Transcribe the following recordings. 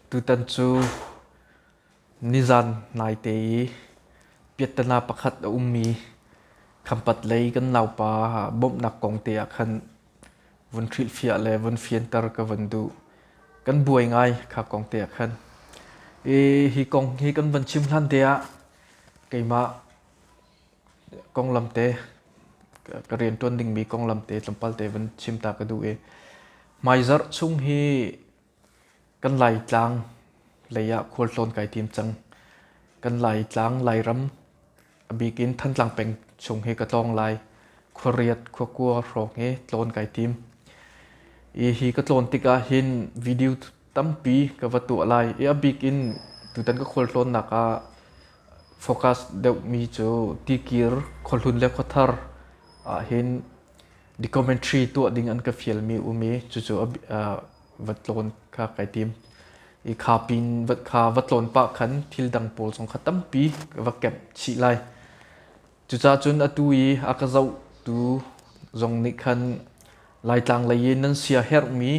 Tutan cu nizan naite i piattana pakhat a ummi khampat lei kan naupa bawmhnak kong te ah khan vun hrilhfiah le vun fianter ka vun duh. Kan buai ngai kha kong te ah khan. I hi kong hi kan van chim hlan te ah keimah konglam te ka rian ṭuan dingmi konglam te tlawmpal te van chim ta ka duh i hmaizarh chung hi kan Laitlang lei ah khualtlawn kai tim cang. Kan Laitlang Lairam a bik in Thantlang peng chung hi ka tlawng lai. Khuariat khuakua hrawng hi tlawn kai tim. I hi ka tlawn tikah hin video tampi ka va tuah lai i a bik in tutan ka khualtlawnnak ah focus deuhmi cu tikir khuahlun le khuathar ah hin documentary tuah ding an ka fialmi um i cucu va tlawn kha kai tim i kha pin kha va tlawn pah khan thil dang pawl zong kha tampi ka va camp chih lai cucaah cun atu i a ka zohtu zong nih khan laitlang lei i nan sia herhmi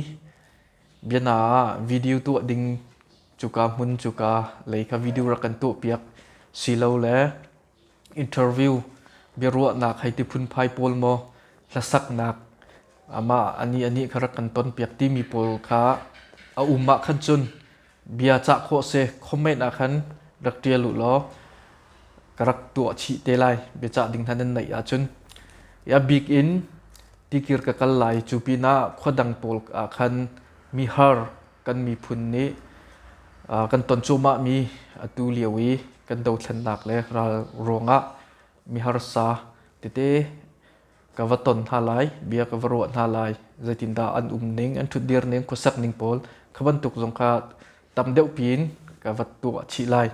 Biana ah video tuah ding cuka hmun cuka lei kha video rak kan tuahpiak silo le interview biaruahnak hei ti phunphai pawl maw hlasaknak amah ani ani kha rak kan tonpiak timi pawl kha a um ah khan cun bia cah khawh a si khawmhmenh ah khan rak ṭial u law ka rak tuah chih te lai biacah ding hna nan neih ahcun i a bik in tikir ka kal lai cu pinah khua dang pawl ah khan mi har kan miphun nih kan ton cuahmah mi atu lio i kan dothlennak le ral ruangah mi harsa tete ka va ton hna lai, bia ka va ruah hna lai, zeitindah an um ning, an ṭhutdir ning, khuasak ning pawl kha bantuk zong kha tam deuh piin ka va tuah chih lai.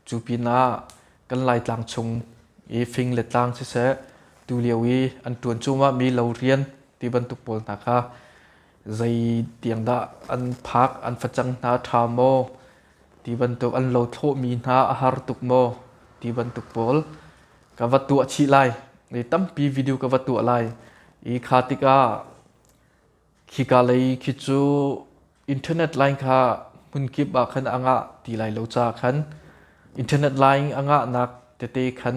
Cu pinah kan Laitlang chung i fing le tlang siseh, tulio i an ṭuan cuahmah mi lo rian ti bantuk pawl hna kha zei tiang dah an phak, an facang hna a ṭha maw? ti bantuk an lo thlawhmi hna a har tuk maw ti bantuk pawl ka va tuah chih lai i tampi video ka va tuah lai i kha tikah khika lei khi cu internet line kha hmunkip ah khan a ngah ti lai lo ca khan internet line angahnak tete khan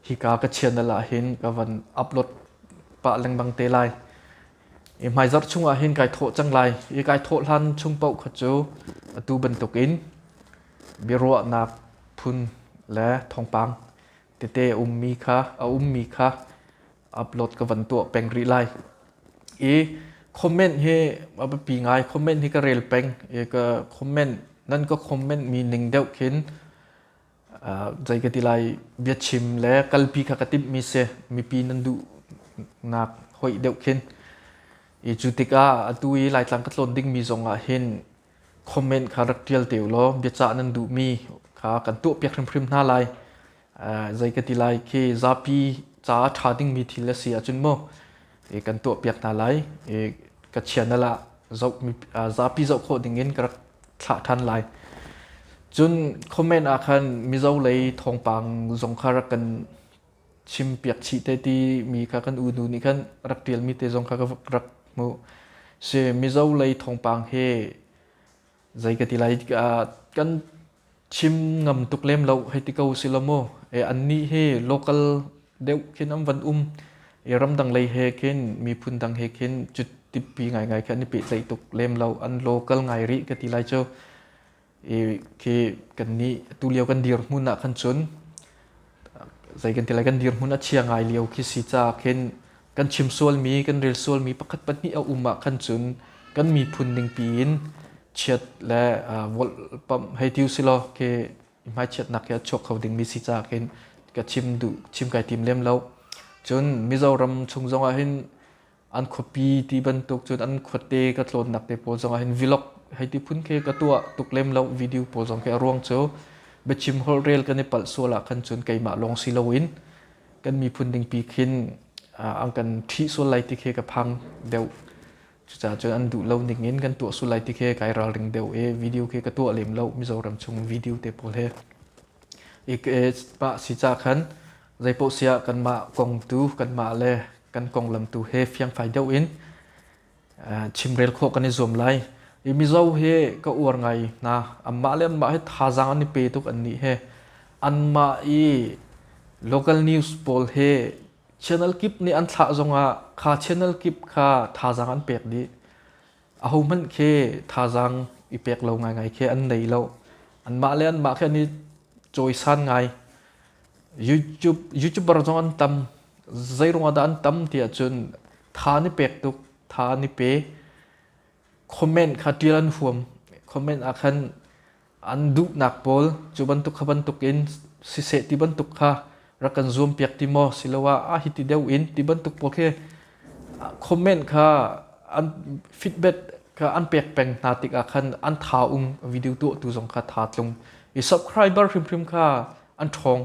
hika ka chianal ah hin ka van upload pah lengmang te lai i hmaizarh chung ah hin kai thawh cang lai i kai thawh hlan chung paoh kha cu atu bantukin biaruahnak phun le thawngpang tete a ummi kha a ummi kha upload ka van tuah peng rih lai i comment hi a biapi ngai comment hi ka rel peng i ka comment nan ka comment mi ning deuh khin zei ka ti lai biachim le kalpi kha ka timhmi si mipi nan duhnak hoih deuh khin i cu tikah atu i laitlang ka tlawn dingmi zong ah hin comment kha rak tial te law biacah nan duhmi kha kan tuahpiak hrimhrim hna lai zei ka ti lai khi zapi ca ṭha dingmi thil a si ahcun maw i kan tuahpiak hna lai i kachian ah zoh zapi zoh khawh ding in ka rak thlah ṭhan lai cun comment ah khan mizo lei thawngpang zong kha rak kan chim piak chih te ti mi kha kan unu nih khan rak ṭial mi te zong kha ka rak hmuh si mizo lei thawngpang hi zei ka ti lai tikah kan chim ngam tuk lem lo hei ti ko si lo mu e an ni he local deuh khin am van um e ramdang lei he khin miphun dang he khin cu tippi ngai ngai kha ni pe tlaih tuk lem lo an local ngai ri ka ti lai chu e khi kan ni tu lio kan dir hmun ah khan chun zei kan ti lai kan dirhmun a chia ngai lio khi si caah khin kan chim sualmi kan rel sualmi pakhat pahnih a um ah khan cun kan miphun ningpi in chiat le uh, wolh pam hei tiu silo ke hmai chiatnak hi a chuak kho dingmi si caah khin ka chim du chim kai tim lem lo cun mizoram chung zongah hin an khuapi ti bantuk cun an khuate ka tlawnnak te pawl zong ah hin vlog hei ti phun khi ka tuah tuk lem lo video pawl zong khi a ruang cu biachim holh rel kan i palh sual ah khan cun keimah lawng si loin kan miphun ding pi khin an kan ṭhi sual lai ti khi ka phang deuh cucaah cun an duh lo ning in kan tuah sul lai ti khi kai ralring deuh e video khi ka tuah lem lo mizoram chung video te pawl he ik e pa si ca khan zeipohsiah kanmah kong tu kanmah le kan konglam tu he fiangfai deuh in chimrel khawh kan i zuam lai i mizo hi ka uar ngai hna anmah le anmah he thazaang an i pe tuk annih he anmah i local news pawl he channel kip nih an thlah zongah kha channel kip kha thazaang an pek dih ahohmanh khi thazaang i pek lo ngaingai khi an nei lo anmah le anmah khi an i cawisan ngai YouTube YouTuber zong an tam zeiruang dah an tam ti ahcun tha an i pek tuk tha an i pe comment kha tial an huam comment ah khan An duhnak pawl cu bantuk kha bantuk in siseh ti bantuk kha rak kan zuampiak ti maw siloah ah hiti deuh in ti bantuk pawl khi comment kha an feedback kha an pek peng hna tikah khan an tha um video tuahtu zong kha tha tlung i subscriber hrimhrim kha an ṭhawng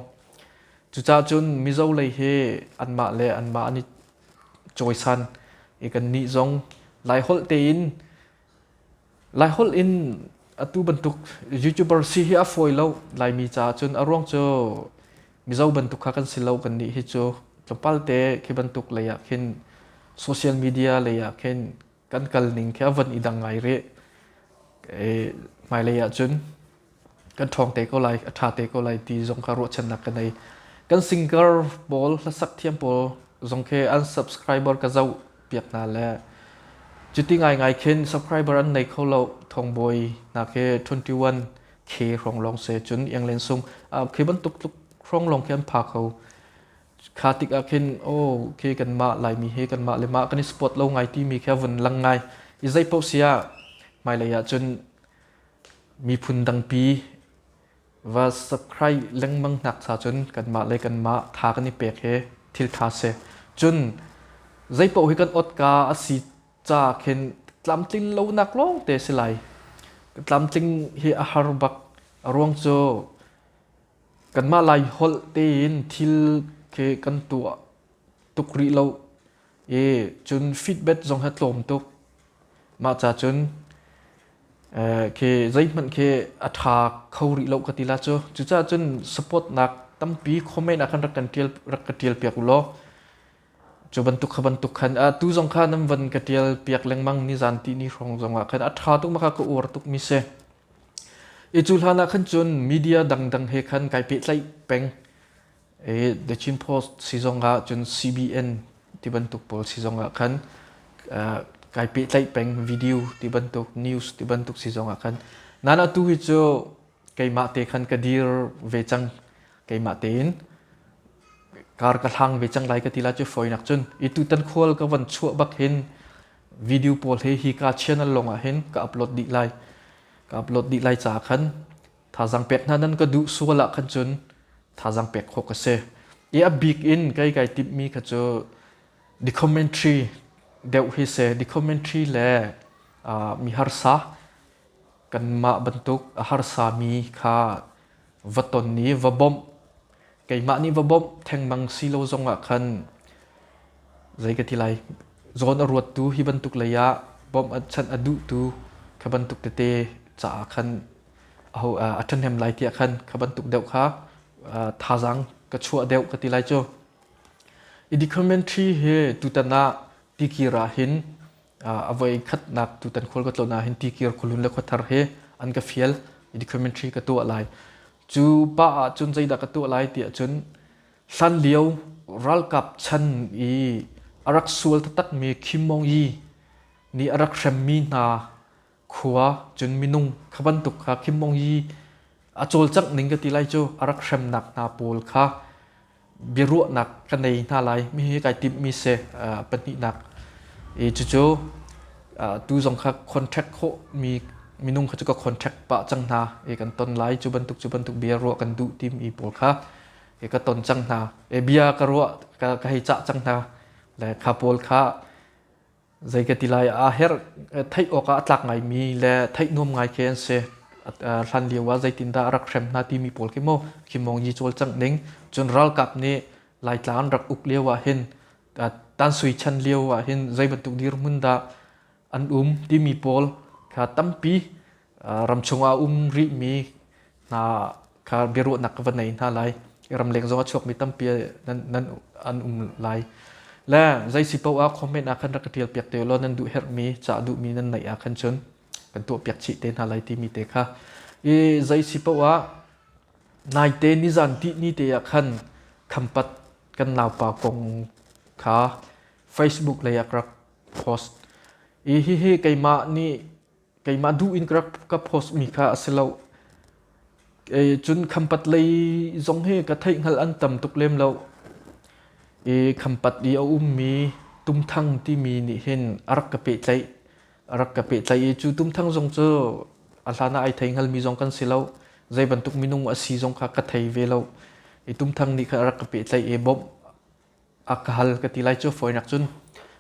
cucah cun mizo lei hi anmah le anmah an i cawisan i kannih zong lai holh tein Laiholh in atu bantuk YouTuber si hi a fawi lo. Laimi caah cun a ruang cu Mizo bantuk kha kan si lo. Kannih hi cu tlawmpal te khi bantuk lei ah khin social media lei ah khin kan kal ning khi a van i dang ngai rih. Hmailei ah cun kan ṭhawng te ko lai, a ṭha te ko lai ti zong kha ruahchannak ka nei. Kan singer pawl, hlasak thiam pawl zong khi an subscriber ka zoh piak hna le cuti ngaingai khin subscriber an nei kho lo thongbawi hna khi 21k hrawng lawng se cun ianglen sung khi bantuk tluk hrawng lawng khi an pha kho kha tik ah khin oh khi kanmah laimi hi kanmah le mah kan i support lo ngai timi khi a vun lang ngai i zei paoh sia hmailei ah cun Miphun dangpi va subscribe lengmang nak sa cun kanmah le kanmah tha kan i pek hi thil tha si. Cun zeipaoh hi kan otka asi ca khin tlamtling lonak lawng te si lai. Ka tlamtling hi a har bak. A ruang cu kanmah lai holh tein thil khi kan tuah tuk rih lo i cun feedback zong hi a tlawm tuk. Mah ca cun khi zeihmanh khi a ṭha kho rih lo ka ti la cu. Cucaah cun supportnak tampi komen ah khan rak kan ṭial, rak ka ṭial piak u law cu bantuk kha bantuk khan a tu zong kha nan van ka ṭial piak lengmang nizan ti ni hrawng zong ah khan a ṭha tuk ma kha ka uar tukmi si. I cu hlan ah khan cun media dangdang he khan kai pehtlaih peng. The Chin Post sizong ah cun CBN tibantuk pawl sizong ah khan kai pehtlaih peng video tibantuk news tibantuk sizong ah khan nan atu hi cu keimah te khan ka dir ve cang keimah tein kar ka hlang ve cang lai ka tila cu foinak cun i tutan khual ka van chuah bak hin video pawl he hi ka channel long ah hin ka upload dih lai ka upload dih lai ca khan Thazang pek hna nan ka duh sual ah khan cun thazang pek khawh ka si i a bik in kei kai timhmi kha cu documentary deuh hi si documentary le mi harsa kanmah bantuk a harsami kha va ton i va bawmh keimah nih va bawmh thengmang si lo zong ah khan zei ka ti lai zawn a ruattu hi bantuk lei ah bawmh chan a duhtu kha bantuk tete caah khan aho uh, a ṭhahnem lai tiah khan kha bantuk deuh kha uh, thazang ka chuah deuh ka ti lai cu i decrementary he tutan ah tikir ah hin uh, avoi khatnak tutan khol ka tlona hin tikir khulun le khothar he an ka fial i decrementary ka tuah lai cu pa ah cun zeidah ka tuah lai tiah cun hlan lio ralkap chan i arak sual takmi khimmong yi ni arak hremmi hna khua cun minung kha bantuk kha Kim Mong Yi a cawlcangh ning ka ti lai cu a rak hremnak hna pawl kha biaruahnak ka nei hna lai mi hi kai timhmi se uh, pahnihnak i cucu uh, tu zong kha contract khawh mi minung kha cu ka contract pa cang hna e kan ton lai cu bantuk cu bantuk bia ruah kan duh tim i pawl kha e ka ton cang hna e bia ka ruah ka, ka hei cah cang hna le kha pawl kha Zei ka ti lai aa herh theih awkah a tlak ngaimi le theih nuam ngai khi an si. Hlan lio ah zeitindah a rak hrem hna timi pawl khi maw khimawng yi cawlcangh ning. Cun ralkap nih Laitlang an rak uk lio ahhin tansui chan lio ahhin zei bantuk dirhmun dah an um timi pawl kha tampi ramchung ah um rihmi hna kha biaruahnak ka va nei hna lai i ramleng zong a chuakmi tampi nan, nan an um lai le zeisi paoh ah comment ah khan rak ka tialpiak te law nan duh herhmi ca duhmi nan neih ah khan cun kan tuahpiak chih te hna lai timi te kha i zeisi paoh ah naite nizan ti ni te ah khan khampat kan naupa kong kha facebook lei ah rak post i hihi keimah nih keimah duh in ka post mi kha a si lo cun khampat lei zong hi ka theih hngal an tam tuk lem lo i khampat i a ummi tumthang timi nih hin a rak ka pehtlaih a rak ka pehtlaih i cu tumthang zong cu a hlan ah ai thei hngalmi zong kan si lo zei bantuk minung a si zong kha ka thei ve lo i tumthang nih khan a rak ka pehtlaih i bawmh a ka hal ka ti lai cu foinak cun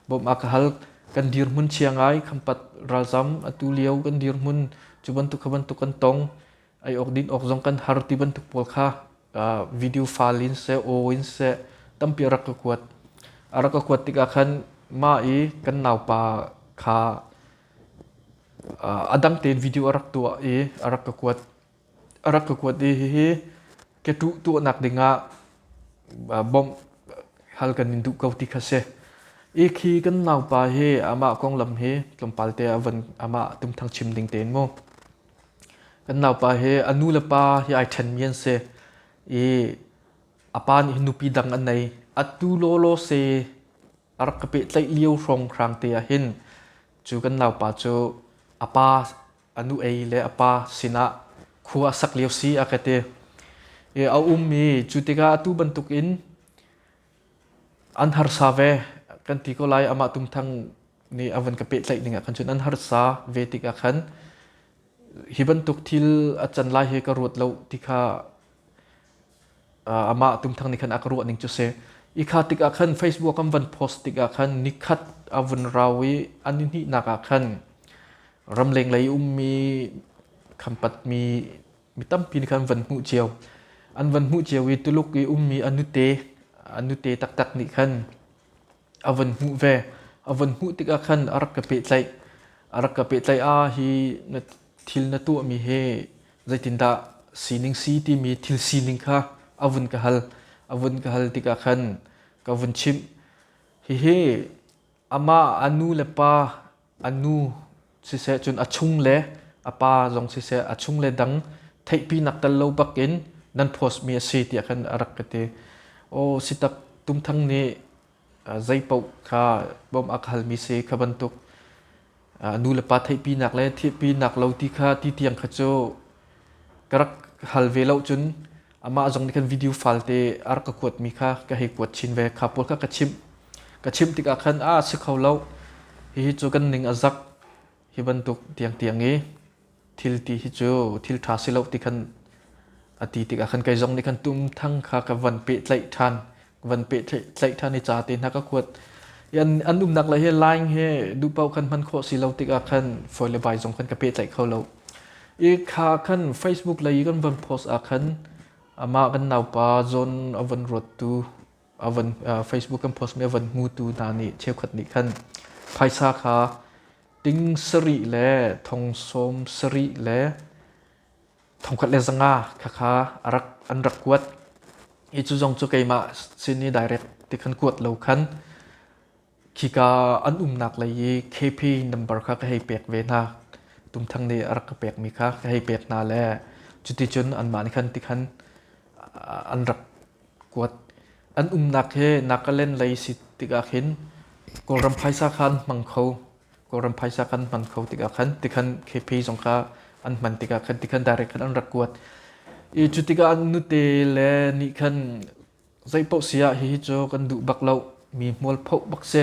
bawm a ka hal kan dirhmun chia ngai khampat ralzam atu lio kan dirhmun cu bantuk kha bantuk kan tong ai awk din awk zong kan har ti bantuk pawl kha uh, video file in se aw in se tampi rak ka kuat a rak ka kuat tikah khan ma i kan naupa kha uh, a dang tein video a rak tuah i a rak ka kuat a rak ka kuat i hihi keṭuh tuahnak dingah bawmh hal kan in duh ko ti kha si. I khi kan naupa hi amah konglam hi tlawmpal te a van amah tumthang chim ding tein mu. Kan naupa hi a nu le pa hi ai ṭhenmi an si i a pa nih hi nupi dang a nei. A tu lawlaw se a rak ka pehtlaih lio hrawnghrang te ahhin cu kan naupa cu a pa a nu ei le a pa sinah khua a sak lio si a ka ti i a ummi cu tikah atu bantukin an harsa ve kan ti ko lai amah tumthang nih a van ka pehtlaih ning ah khan cun an harsa ve tikah khan hi bantuk thil a can lai hi ka ruat lo ti kha amah tumthang nih khan a ka ruahning cu si i kha tikah khan Facebook an van post tikah khan nikhat a vun rau i an i hnihnak ah khan ramleng lei ummi khampat-mi mi tampi nih khan van hmuh cio an van hmuh cio i Tuluk i ummi a nute a nute taktak nih khan a von hmuh ve. A von hmuh tikah khan a rak ka pehtlaih. A rak ka pehtlaih ah hi na thil na tuahmi hi zeitindah sining si timi thil sining kha a vun ka hal. A vun ka hal tikah khan ka vun chimh. Hihi amah a nu le pa a nu siseh cun a chung le a pa zong siseh a chung le dang theihpi nak tel lo bak in nan post mi a si tiah khan a rak ka ti aw sitak tumthang nih zeipaoh kha bawm ak hal mi si kha bantuk nu le pa theihpi nak le thiehpi nak lo ti kha ti tiang kha cu ka rak hal ve lo cun amah zong nih khan video falte a rak ka kuatmi kha ka hei kuat chin ve kha pawl kha ka chimh ka chimh tikah khan a si kho lo hihi cu kan ning a zak hi bantuk tiang tiang i thil ti hi cu thil ṭha si lo ti khan a ti tikah khan kei zong nih khan tum thang kha ka van pehtlaih ṭhan van pe tlaih than i ca te hna ka kuat an an umnak la hi line he du pau khan man kho si lo tik ah khan foi le bai zong khan ka pe tlaih kho lo i kha khan facebook lei kan van post a khan ama kan naupa john avan rot tu avan facebook kan post me avan mu tu na ni chekhot ni khan phaisa kha ting sari le thong som sari le thongkhat le zanga khakha an rak kuat i cu zong cu keimah sin i direct ti khan kuat lo khan khika an umnak lei i KP number kha ka hei pek ve hna tumthang nih a rak ka pekmi kha ka hei pek hna le cuti cun anmah nih khan ti khan an rak kuat an umnak hi Nagaland lei si tikah khin Kawlram phaisa khan hmang kho Kawlram phaisa khan hman kho tikah khan tikhan KP zong kha an hman tikah khan tikhan direct khan an rak kuat i cu tikah an nute le nih khan zei paoh si ah hihi cu kan duh bak lo mi hmual phoh bak si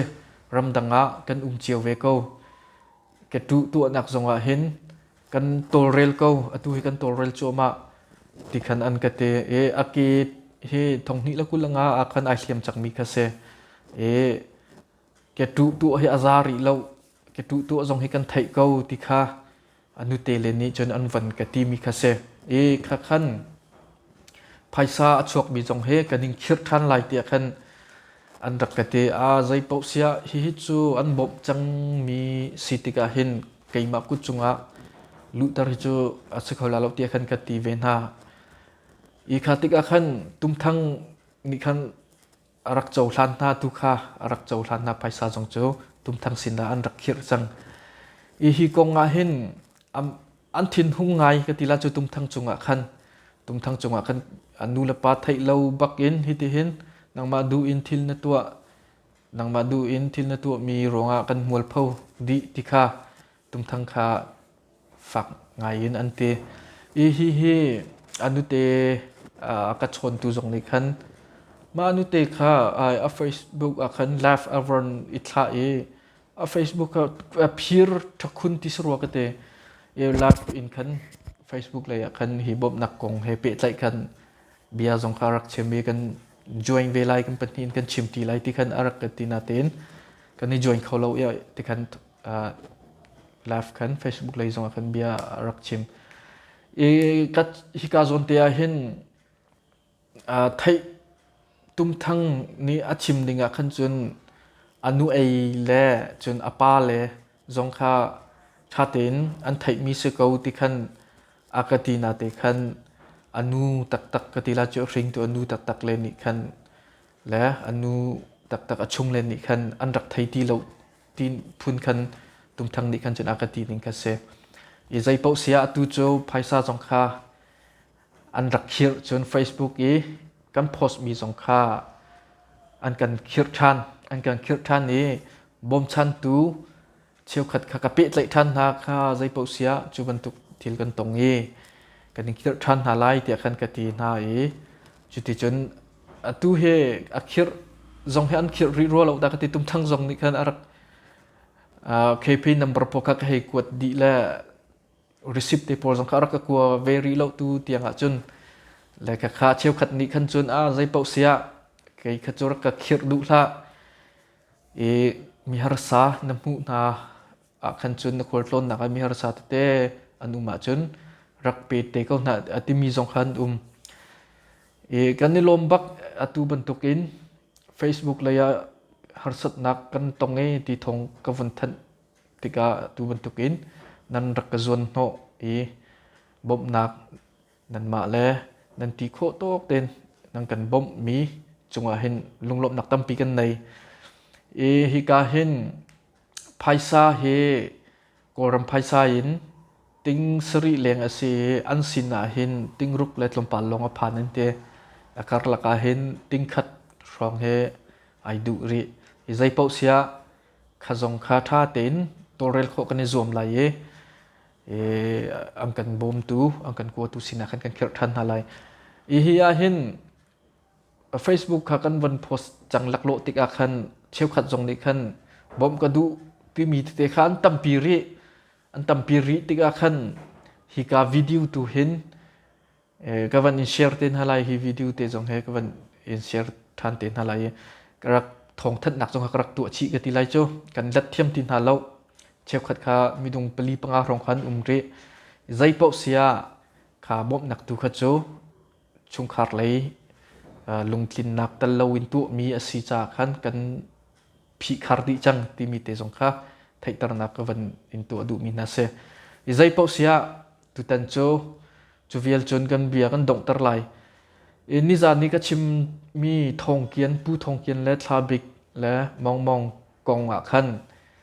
ramdang ah kan um cio ve ko ka tu tuahnak zong ah hin kan tawlrel ko atu hi kan tawlrel cuahmah ti khan an ka te e a ke hi thonghni la kulanga a khan ai hliam cak mi kha si e Ka ṭuh tuah hi a za rih lo, ka ṭuh tuah zong hi kan theih ko ti kha a nute le nih cun an van ka timi kha si. I kha khan phaisa a chuakmi zong hi kan in khirh ṭhan lai tiah khan an rak ka ti. A zei paoh siah hihi cu an bawmh cangmi si tikah hin keimah kut cungah luhter hi cu a si kho la lo tiah khan ka ti ve hna. Hi kha tikah khan tumthang nih khan A rak cohlan hna tu kha a rak cohlan hna phaisa zong cu tumthang sin ah an rak khirh cang i hi kong ah hin an thinhung ngai ka ti la cu tumthang cungah khan tumthang cungah khan an nu le pa theih lo bak in hiti hin nangmah du in thil na tuah nangmah du in thil na tuah mi ruangah kan mualpho dih ti kha tumthang kha fak ngaiin an ti i hihi a nute a ka chawntu zong nih khan mah nute kha a facebook ah khan laugh a von i thlah i a facebook a phir ṭhakhun ti sarua ka te i laugh in khan facebook lei ah khan hi bawmhnak kong he pehtlaih khan bia zong kha rak chim i kan join ve lai kan pahnih in kan chim ti lai ti khan a rak ka ti natein kan i join kho lo i ti khan live khan Facebook lei zongah khan bia a rak chim i hika zawnte ah hin theih tumthang nih a chim ding ah khan cun a nu ei le cun a pa le zong kha ṭha tein an theihmi si ko ti khan a ka ti na te khan a nu taktak ka ti la cu hringtu a nu taktak le nih khan le a nu taktak a chung le nih khan an rak thei ti lo ti phun khan tumthang nih khan cun a ka ti ning kha si i zei paoh sia atu cu phaisa zong kha an rak khirh cun facebook i kan post mi zong kha an kan khirh ṭhan an kan khirh ṭhan i bawmchantu cheukhat kha ka pehtlaih ṭhan hna kha zei paoh sia cu bantuk thil kan tong i kan in khirh ṭhan hna lai tiah khan ka ti hna i cuti cun atu hi a khirh zong hi an khirh rih rua lo da ka ti tum thang zong nih khan a rak KP number po kha ka hei kuat dih le receipt te pawl zong kha a rak ka kua ve rih lo tu tiang ah cun le ka kha cheu khat nih khan cun a zei pauh sia kei kha cu rak ka khirh duh hlah i mi harsa na hmuh hna ah khan cun na khual tlawnnak ah miharsa tete an um ahcun rak pe te ko hna a timi zong khan um i kan i lawm bak atu bantukin facebook lei ah harsatnak kan tong i ti thong ka vun thanh tikah atu bantukin nan rak ka zuan hnawh i bawmhnak nanmah le nan ti khawh tok ten nan kan bawmh mi cungah hin lunglawmhnak tampi kan nei i hika hin Phaisa hi Kawlram phaisa in ting sarih leng a si i an sin ahhin tingruk le tlawmpal lawng a phan an ti. A karlak ahhin tingkhat hrawng hi ai duh rih. Hi zeipaoh siah kha zong kha ṭha tein tawlrel khawh kan i zuam lai i i an kan bawmtu, an kan kuatu sinah khan kan khirh ṭhan hna lai. Hi hi ahhin Facebook kha kan von post cang laklawh tikah khan cheukhat zong nih khan bawmh ka duh timi tete kha an tampi rih an tampi rih tikah khan hi ka video tu hin ka van in share te hna lai hi video te zong he ka van in share than te hna lai ka rak thong thannak zong ka rak tuah chih ka ti lai cu kan let thiam ti hna lo cheukhat kha midung pali panga rong khan um rih zei paoh sia kha bawmhnak tu kha cu chungkhar lei lungtlinnak tel loin tuahmi a si caah khan kan phihkhar dih cang timi te zong kha theihternak ka van in tuah duhmi hna si. I zei paoh si ah tutan cu cu vial cun kan bia kan donghter lai. I nizan ni ka chimmi thongkian, pu thongkian le thlabik le mongmong kong ah khan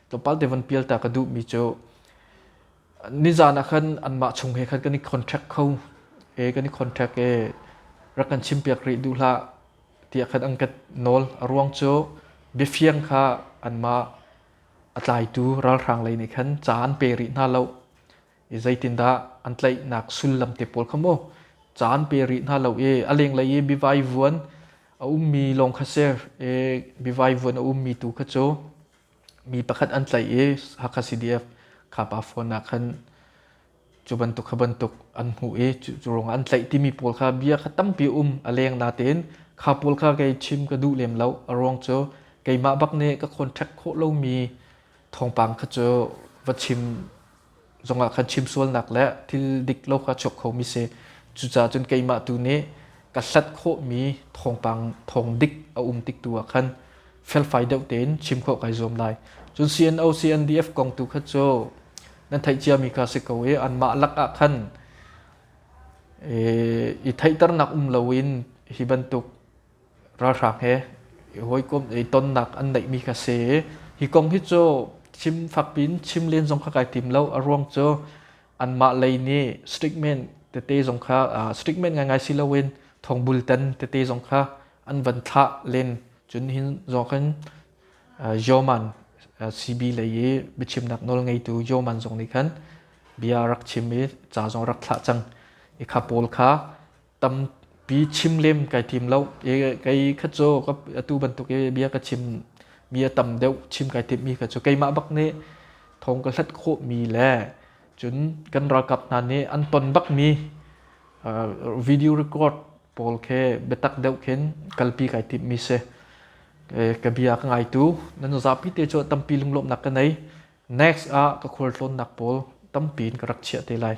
tlawmpal te van pial ta ka duhmi cu nizan ah khan anmah chung he khan kan i contract kho e kan i contract e rak kan chim piak rih duh hlah tiah khan an ka nawl a ruang cu biafiang kha anmah a tlaitu ralhrang lei nih khan ca an pe rih hna lo i zeitindah an tlaihnak sullam te pawl kha maw ca an pe rih hna lo e a lenglei i bivai vuan a ummi lawng kha ser e bivai vuan a ummi tu kha cu mi pakhat an tlaih i Hakha CDF khapa phone ah khan cu bantuk kha bantuk an hmuh i cu, cu ruangah an tlaih timi pawl kha bia kha tampi um a leng natein kha pawl kha kei chim ka duh lem lo a ruang cu keimah bak nih ka contact khawh lomi thawngpang kha cu va chim zongah khan chim sualnak le thil dik lo kha chuak khomi si cucaah cun keimah tu nih ka hlat khawhmi thawngpang thawng dik a um tik tu ah khan felfai deuh tein chim khawh kai zuam lai cun CNO CNDF kong tu kha cu nan theih ciami kha si ko i anmah lakah khan i theihternak um loin hi bantuk ralhrang he hawikom i tonnak an neihmi kha si hi kong hi cu chim fakpi in chim len zong kha kai tim lo a ruang cu anmah lei nih statement tete zong kha statement ngaingai si loin thongbulten tete zong kha an van thlah len cun hin zong khan yoman CB lei i biachimnak nawl ngeitu yoman zong nih khan bia rak chim i ca zong rak thlah cang i kha pawl kha tampi chim lem kai tim lo e kai khat co atu bantuk e bia ka chim mi a tam deuh chim kai tim mi ka cu keimah bak nih thong ka hlat khawh mi le cun kan ralkap hna nih an ton bak mi video record pawl khe biatak deuh khin kalpi kai tim mi se ka bia ka ngai tu nan zapi te cho tampi lunglom nak ka nei next ah ka khual tlawn nak pawl tampi in ka rak chia te lai